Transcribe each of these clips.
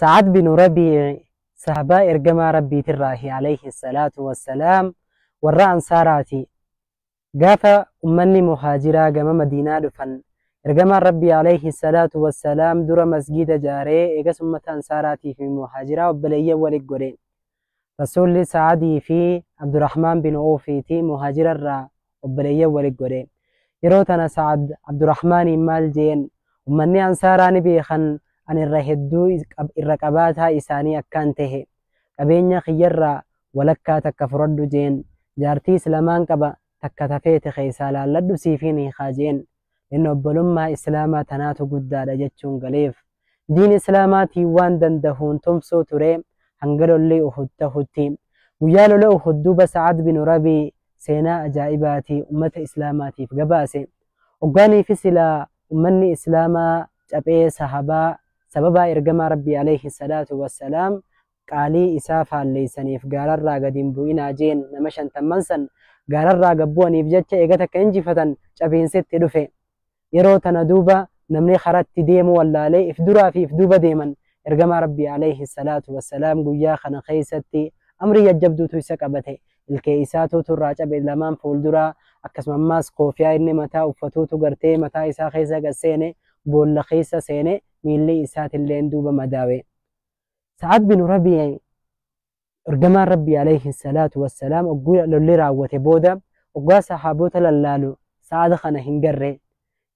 Sa'ad binu Rabii'i sahabaa ergamaa Rabbiitirraahi alayhi salaatu wassalaam warra Ansaaraati. Gaafa ummanni muhaajiraa gama Madiinaa dhufan ergamaan Rabbii alayhi salaatu wassalaam dura masgiida jaaree eegas ummata Ansaaraatiifi muhaajiraa obboleeyyan wali godhe. Rasuulli Sa'adii fi Abdurrahmaan bin Awfiiti muhaajira irraa obboleeyyan wali godhe. Yeroo tana Sa'ad Abdurrahmaaniin maal jeen ummanni Ansaaraa ni beekan an irra hedduu irra qabaataa isaanii akkaan tahe. Qabeenya kiyyarraa walakkaa takka furadhu jeen. Jaartiis lamaan qaba takka ta feete keessaa laalladhu siifin hiikaa jeen. Inni obbolummaa Islaamaa tanaatu guddaadha jechuun galeef. Diin Islaamaatiin waan dandahuun tumsuu ture hanga lolli Uhud tahutti. Guyyaa lola Uhud duuba Sa'ad binu Rabii seenaa ajaa'ibaati ummata Islaamaatiif gabaase. Oggaaniifi silaa ummanni Islaamaa caphee sahabaa sababaa Ergamaa Rabbii aleyhi salaatu wassalaam qaalii isaa faalleessaniif gaararraa gad hin bu'inaa jeen nama shantamman san gaararraa gad bu'aniif jecha eega takka injifatan cabiinsi itti dhufe. Yeroo tana duuba namni karatti deemu wallaalee if duraa fi if duuba deeman. Ergamaa Rabbii alayhi salaatu wassalaam guyyaa kana keessatti amrii jajjabduutu isa qabate. Ilkee isaa tuutu irraa cabe lamaan fuulduraa akkasuma ammaas koofiyaa inni mataa uffatuutu gartee mataa isaa keessa gad seene boolla keessa seene miilli isaatilleen duuba madaawe. Sa'ad bin Rabi'i ergamaan Rabbii alayhi salaatu wassalaam ogguu lolli raawwate booda oggaa sahaabota lallaalu Sa'ad kana hin garre.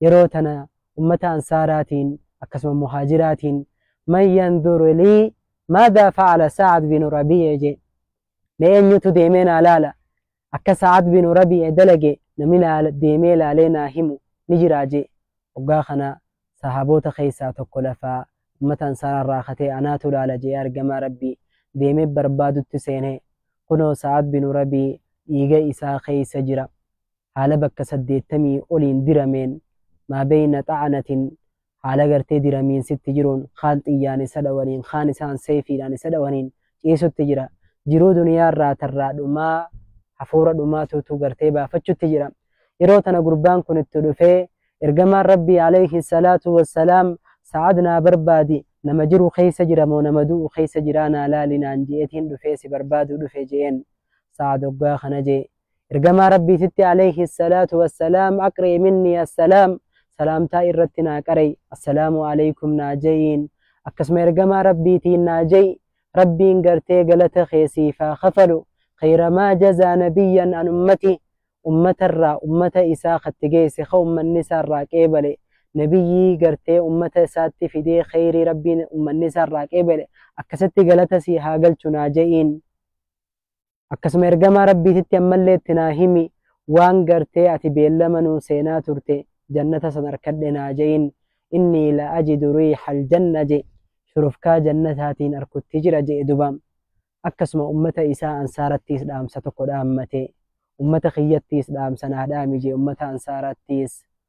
Yeroo tana ummata Ansaaraatiin akkasuma Muhaajiraatiin man yanduru lii maadaa fa'ala Sa'ad bin Rabi'i je mee eenyutu deemee naa laala Akka Sa'ad binu Rabii'a dalage namni naa deemee laalee naa himu ni jiraa je'e. Hoggaa kana Sahaaboota keessaa tokko lafaa ummata Ansaaraa irraa katee anaatu laala je'ee Ergamaa Rabbii deemee barbaadutti seene. Kunoo Sa'ad binu Rabii dhiiga isaa keessa jira. Haala bakka saddeettamii oliin dirameen, maa beyna xa'anatin haala gartee diramiinsitti jiruun kaan xiyyaan isa dhawaniin kaan isaan seefiidhaan isa dhawaniin ciisutti jira jiruu duniyaa irraa tarraa dhumaa hafuura dhumaa tuutuu gartee baafachutti jira yeroo tana gurbaan kun itti dhufee ergamaan rabbii alayhi salaatu wassalaam sa'ad naa barbaadi nama jiru keessa jira moo nama du'u keessa jiraa naa laali naan je'etiin dhufee si barbaadu dhufe je'een sa'ad oggaa kana jee Ergamaa Rabbii sitti alayhi salaatu wassalaam aqri'i minni assalaam salaamtaa irratti naa qara'i assalaamu alaykum naa ja'iin akkasuma ergamaa Rabbiitiin naa ja'i Rabbiin gartee galata kee siif haa kafalu khayramaa jazaa nabiyyan an ummati ummatarraa ummata isaa katti geesse ka ummanni isaarraa qeebale nabiyyii gartee ummata isaatti fidee khayrii Rabbiin ummanni isaarraa qeebale akkasitti galata sii haa galchu naa ja'iin Akkasuma ergamaa Rabbiititti ammallee itti naa himi waan gartee ati beellama nuu seenaa turte jannata san arkadhe naa je'in innii la ajidu riihal janna je shurufkaa jannataatiin arkutti jira je'e duba akkasuma ummata isaa ansaarattiis dhaamsa tokko dhaammate ummata kiyyattiis dhaamsa naa dhaami je ummata ansaarattiis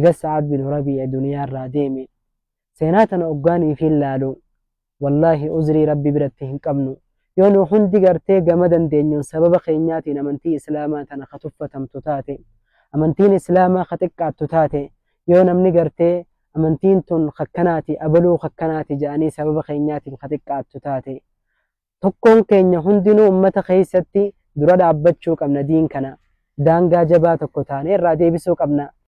egas sa'aad bin rabii'a duniyaa irraa deeme seenaa tana oggaanii fi laalu wallaahi uzrii rabbi biratti hin qabnu yoo nu hundi gartee gama dandeenyuun sababa keenyaatiin amantii islaamaa tana ka tuffatamtu taate amantiin islaamaa ka xiqqaattu taate yoo namni gartee amantiin tun kakkanaati abaluu kakkanaati jedhanii sababa keenyaatiin ka xiqqaattu taate tokkoon keenya hundinuu ummata keessatti dura dhaabbachuu qabna diin kana daangaa jabaa tokko taanee irraa deebisuu qabna